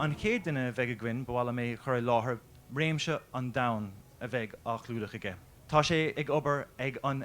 An chéad duine a bheidh againn, ba mhaith liom é a chur i láthair, réimse an-domhain a bheidh á chlúdach aige. Tá sé ag obair ag an.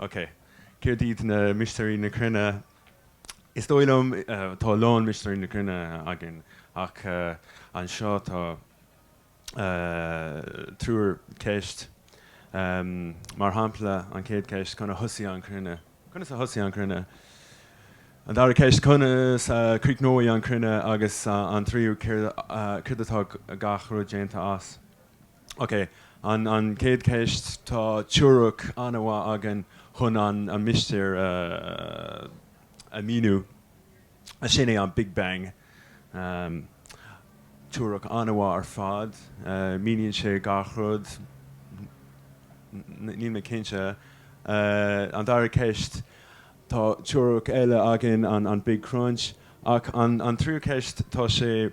OK. Céard iad na Mistéirí na Cruinne? Is dóigh liom, tá a lán Mistéirí na Cruinne againn ach anseo tá triúr ceist. Mar shampla, an chéad cheist, conas a thosaigh an chruinne? Conas a thosaigh an chruinne? An dara ceist, conas a chríochnóidh an chruinne? Agus an tríú, céard atá gach rud déanta as? OK, an chéad cheist, tá teoiric an-mhaith againn chun an mistéir a mhíniú, sin é an Big Bang. Teoiric an-mhaith ar fad, míníonn sé gach rud, níl mé cinnte. An dara ceist, tá teoiric eile againn, an Big Crunch, ach an tríú ceist, tá sé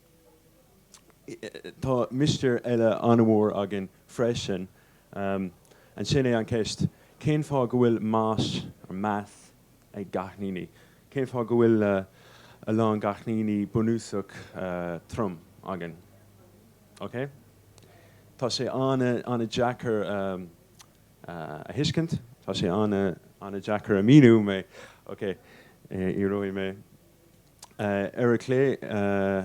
Tá mistéir eile an-mhór againn freisin, sin é an cheist, cén fáth go bhfuil mais, or mass, ag cáithníní? Cén fáth go bhfuil a lán cáithníní bunúsach trom againn? Ok? Tá sé an-deacair a thuiscint, tá sé an-deacair a míniú, mé. Ok, íoróidh mé. Ar a clé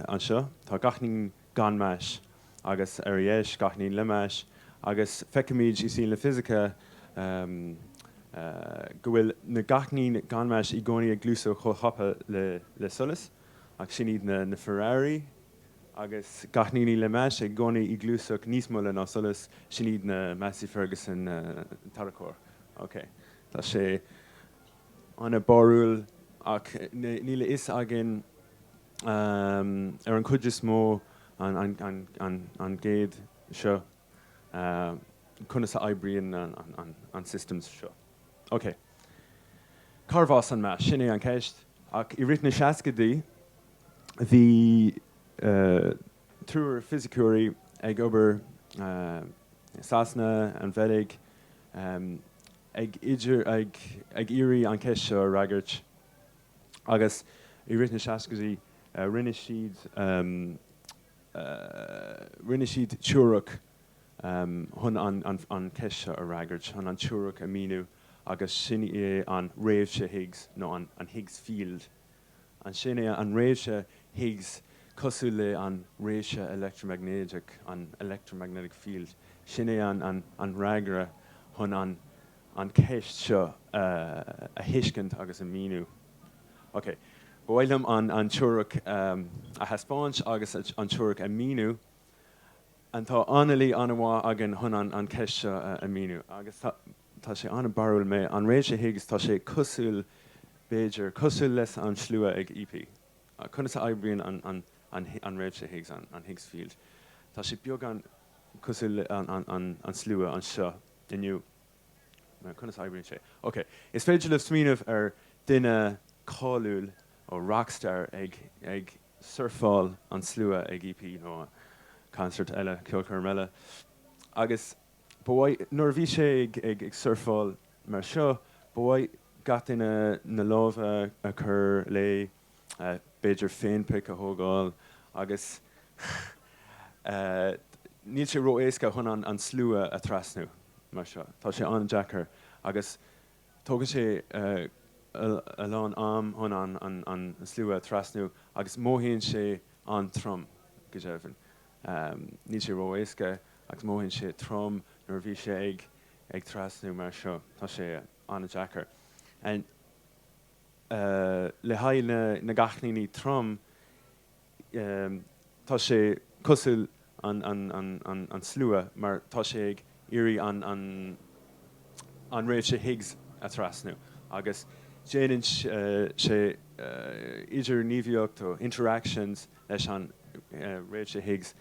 anseo tá cáithníní gan mhais, agus ar a dheis cáithníní le mais, agus feicimid i saol na fisice go bhfuil na cáithníní gan mhais i gcónaí ag gluaiseacht chomh tapa le solas, ach sin iad na Ferrari, agus cáithníní le mais i gcónaí ag gluaiseacht níos moille ná solas, sin iad na Massey-Ferguson tarracóir. Ok, tá sé. an-bharrúil ach níl a fhios againn ar an gcuid is mó an gcéad seo conas a oibríonn an system seo. OK. Cárbh as an mass? Sin é an cheist. Ach i rith na seascaidí bhí. triúr fisiceoirí ag obair i Sasana, an Bheilg, ag iarraidh an cheist seo a fhreagairt agus i rith na seascaidí rinne siad teoiric chun an cheist seo a fhreagairt, chun an teoiric a mhíniú agus sin é an Réimse Higgs nó an Higgs Field. Sin é an réimse Higgs, cosúil le an réimse electromagnéideach, an electromagnetic field, sin é an fhreagra chun an cheist seo a thuiscint agus a míniú. Ok, ba mhaith liom an teoiric a thaispeáint agus an teoiric a míniú. Tá analaí an-mhaith againn chun an cheist seo a míniú agus tá. tá sé an-barrúil mar an réimse Higgs tá sé cosúil, b'fhéidir, cosúil le an slua ag EP. Conas a oibríonn an, an, an, an réimse Higgs, an, an Higgs field? Tá sé beagán cosúil le an, an, an, an slua anseo inniu. Now, conas a oibríonn sé? Ok, is féidir libh smaoineamh ar duine cáiliúil, nó rock star, ag, ag surfáil an slua ag EP nó concert eile, ceolchoirm eile, agus, Ba mhaith, nuair a bhí sé ag surfáil mar seo, ba mhaith gach duine na lámha a chur léi, b'fhéidir féinphic a thógáil agus níl sé ró-éasca chun an slua a thrasnú mar seo, tá sé an-deacair agus tógann sé a lán am chun an slua a thrasnú agus mothaíonn sé an-trom, go deimhin. Níl sé ró-éasca agus mothaíonn sé trom nuair a bhí sé ag trasnú mar seo. Tá sé an-deacair. Le haghaidh na gcáithníní trom, tá sé cosúil an slua mar tá sé ag iarraidh an réimhse Higgs a thrasnú agus déanann sé idirghníomhaíocht, interactions, Leis an réimse Higgs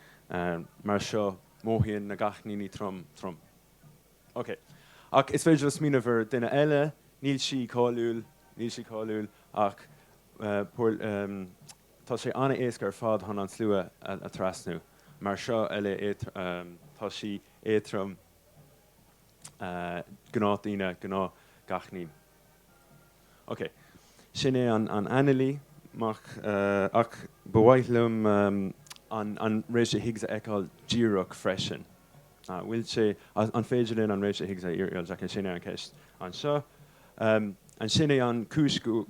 mar seo, mothaíonn na gcáithníní trom trom. Ok. Ach is féidir smaoineamh ar duine eile, níl sí cáiliúil, níl sí cáiliúil, ach bhuel, tá sé an-éasca ar fad chun an slua a thrasnú. Mar seo, eile tá sí éatrom, gnáthdhaoine, gnáthcháithnín. Ok, sin é an analaí, ach, ach ba mhaith liom an réimse Higgs a fheiceáil díreach freisin. An bhfuil sé, an féidir linn an réimse Higgs a fheiceáil? Ok, sin é an cheist anseo. Sin é an cúis go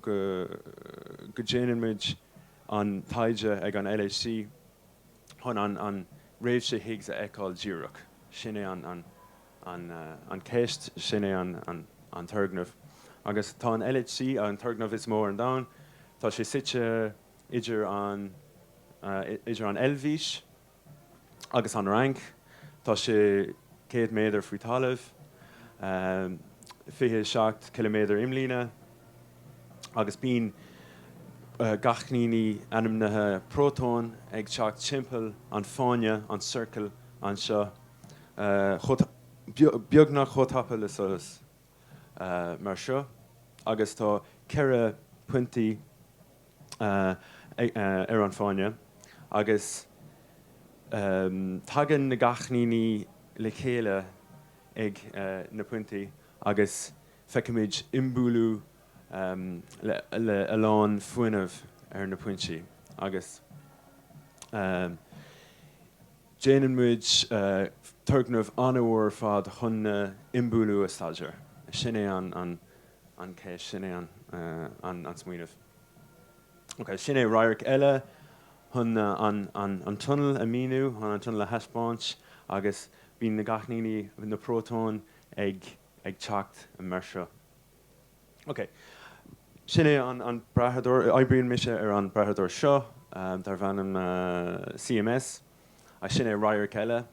déanann muid an taighde ag an LHC, chun an réimse Higgs a fheiceáil díreach. Sin é an. an cheist, sin é an turgnamh. Agus tá an LHC, an turgnamh is mó ar an domhan, tá sé suite idir an idir an Eilbhís agus an Fhrainc, tá sé céad méadar faoi thalamh, fiche seacht ciliméadar imlíne, agus bíonn gcáithníní ainmnithe prótón ag teacht timpeall an fáinne, an circle, anseo. beagnach chomh tapa le solas mar seo agus tá ceithre pointí ar an fáinne agus tagann na gcáithníní le chéile ag na pointí agus feicimid imbhualú le a lán fuinnimh ar na pointí agus. Déanann muid turgnaimh an-mhór ar fad chun na imbhualú a staidéar. Sin é an key, sin é an smaoineamh. Ok, sin é radharc eile chun an tunnel a míniú, chun an tunnel a thaispeáint agus bíonn na gcáithníní, na prótóin ag teacht mar seo. OK. Sin é an brathadóir. Oibríonn mise ar an brathadóir seo darb ainm CMS, agus sin é radharc eile.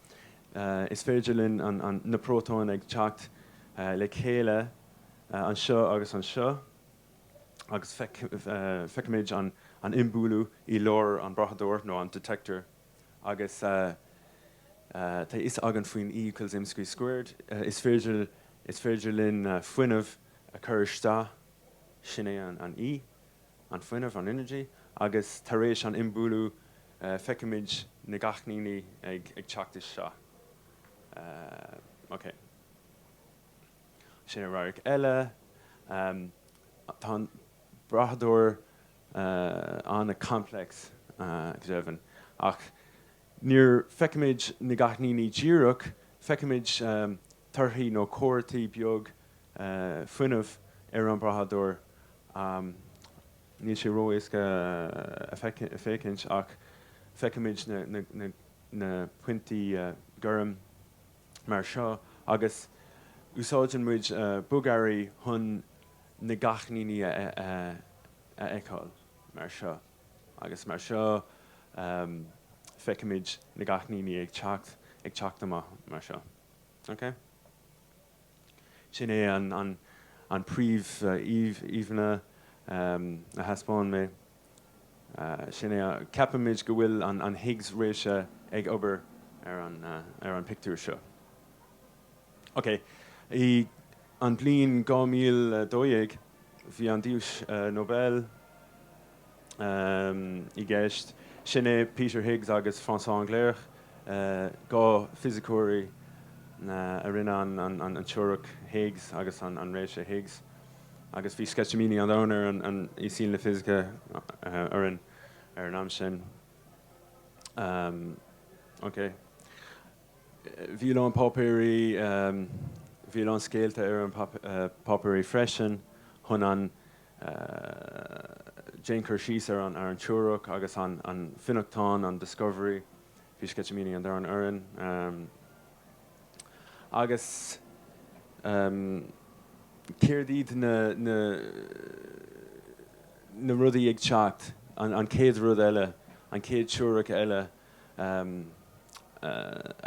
Is féidir linn na prótóin ag teacht le chéile anseo agus anseo, agus feicimid an imbhualú i lár an brathadóir, nó an detector. Agus tá a fhios againn faoin E equals mc squared, is féidir is féidir linn fuinneamh a chur isteach, sin é an E, an fuinneamh, an energy, agus tar éis an imbhualú feicimid na gcáithníní ag teacht isteach. OK. Sin é radharc eile. Tá an brathadóir an-complex go deimhin, ach níor feicimid na gcáithníní díreach, feicimid torthaí nó comharthaí beag fuinnimh ar an brathadóir. Níl sé ró-éasca a féachaint ach feicimid na pointí gorm mar seo agus úsáideann muid bogearraí chun na gcáithníní a. a fheiceáil mar seo agus mar seo feicimid na gcáithníní ag teacht ag teacht amach mar seo ok sin é an an an príomhíomhánna a thaispeáin mé sin é ceapaimid go bhfuil an an Higgs réise ag obair ar an ar an pictiúr seo. OK. I an bhliain 2012, bhí an duais Nobel i gceist. Sin é Peter Higgs agus François Englert, dhá fisiceoirí a rinne an teoiric Higgs agus an réimse Higgs. Agus bhí sceitimíní an domhain orainn i saol na fisice ar an am sin. OK. Bhí a lán páipéirí, bhí a lán scéalta ar an páipéirí freisin chun an, déan cur síos ar an teoiric agus an fionnachtán, an discovery, bhí sceitimíní an domhain orainn agus céard iad na, na, na rudaí ag teacht, an chéad rud eile, an chéad teoiric eile, a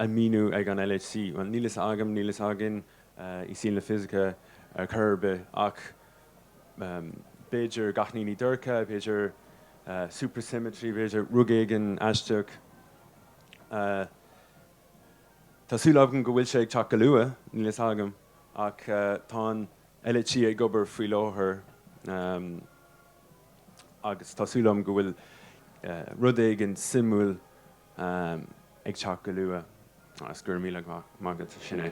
mhíniú ag an LHC. Bhuel, níl fhios agam, níl fhios againn i saol na fisice ar chor ar bith ach b'fhéidir cáithníní dorcha, b'fhéidir supersymmetry, b'fhéidir rud éigin aisteach. Tá súil againn go bhfuil sé ag teacht go luath, níl fhios agam ach tá an LHC ag obair faoi láthair. agus tá súil agam go bhfuil rud éigin suimiúil ag teacht go luath, agus go raibh míle maith agat. Sin é.